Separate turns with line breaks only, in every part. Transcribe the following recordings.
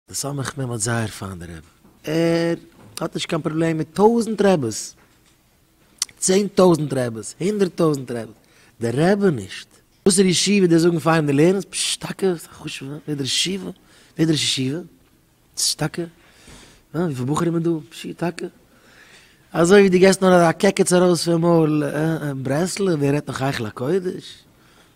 די סמך מם האט זייער פיינע רעב. ער האט נישט קיין פראבלעם מיט טויזענט רעבעס, צען טויזענט רעבעס, הונדערט טויזענט רעבעס, דער רעבע נישט. וואסערע ישיבה די זאגן פיין די לערנערס, פשש טאקע? ס'איז א חשובע ווער דער ישיבה? ווער דער ראש ישיבה? פשש טאקע? אה וויפיל בחורים איז דא? פשי טאקע? אזוי ווי די געסט נאר א קעקעץ ארויס פון מויל, אה אה ברסלב ווער רעדט נאך היכל הקודש?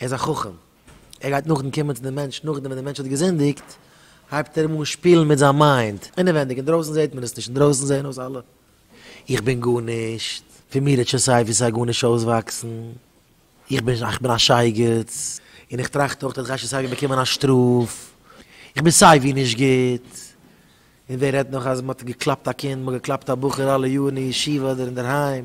ער איז א חכם, ער גייט נאכדעם קומען צו די מענטש נאכדעם ווען די מענטש האט געזינדיגט, הייבט ער אים אן שפילן מיט זיין מיינד, אינעווענדיג, אינדרויסן זעט מען עס נישט, אינדרויסן זעען אויס אלע, איך בין גארנישט, פון מיר וועט שוין סיי ווי סיי גארנישט אויסוואקסן, איך בין איך בין א שייגעץ, און איך טראכט אויך אז איך גיי שוין סיי ווי באקומען א שטראף, איך בין סיי ווי נישט גוט, און ווער רעדט נאך אז מען האט געקלאפט א קינד, מען האט געקלאפט א בחור אלע יארן אין ישיבה אדער אינדערהיים.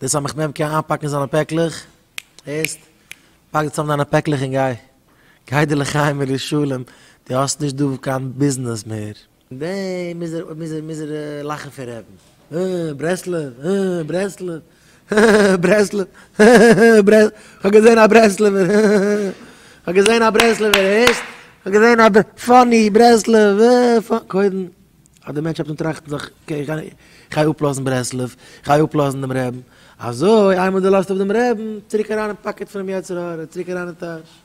דאס אז כ'נעם קען איינפאקן זיינע פעקלעך, הערסט? פאק צוזאם דיינע פעקלעך און גיי. גיי דיר לחיים ולשלום, דו האסט נישט דא קיין ביזנעס מער. און דעם מוז ער מוז ער מוז ער לאכן פון רעדן. הע, ברסלב, הע, ברסלב, הע, ברסלב, הע, ברסלב, כ'האב געזען א ברסלב'ער, הע, כ'האב געזען א ברסלב'ער, הערסט? כ'האב געזען א ב, פאני, ברסלב, הע, פא, קודם. אז דער מענטש האט אן טראכטן זיך אקעי איך גיי אפלאזן ברסלב איך גיי אפלאזן דעם רעבן אזוי איינמאל די לאזט אפ דעם רעבן צוריק אריין אין פאקעט פונעם יצר הרע צוריק אריין אין טאש.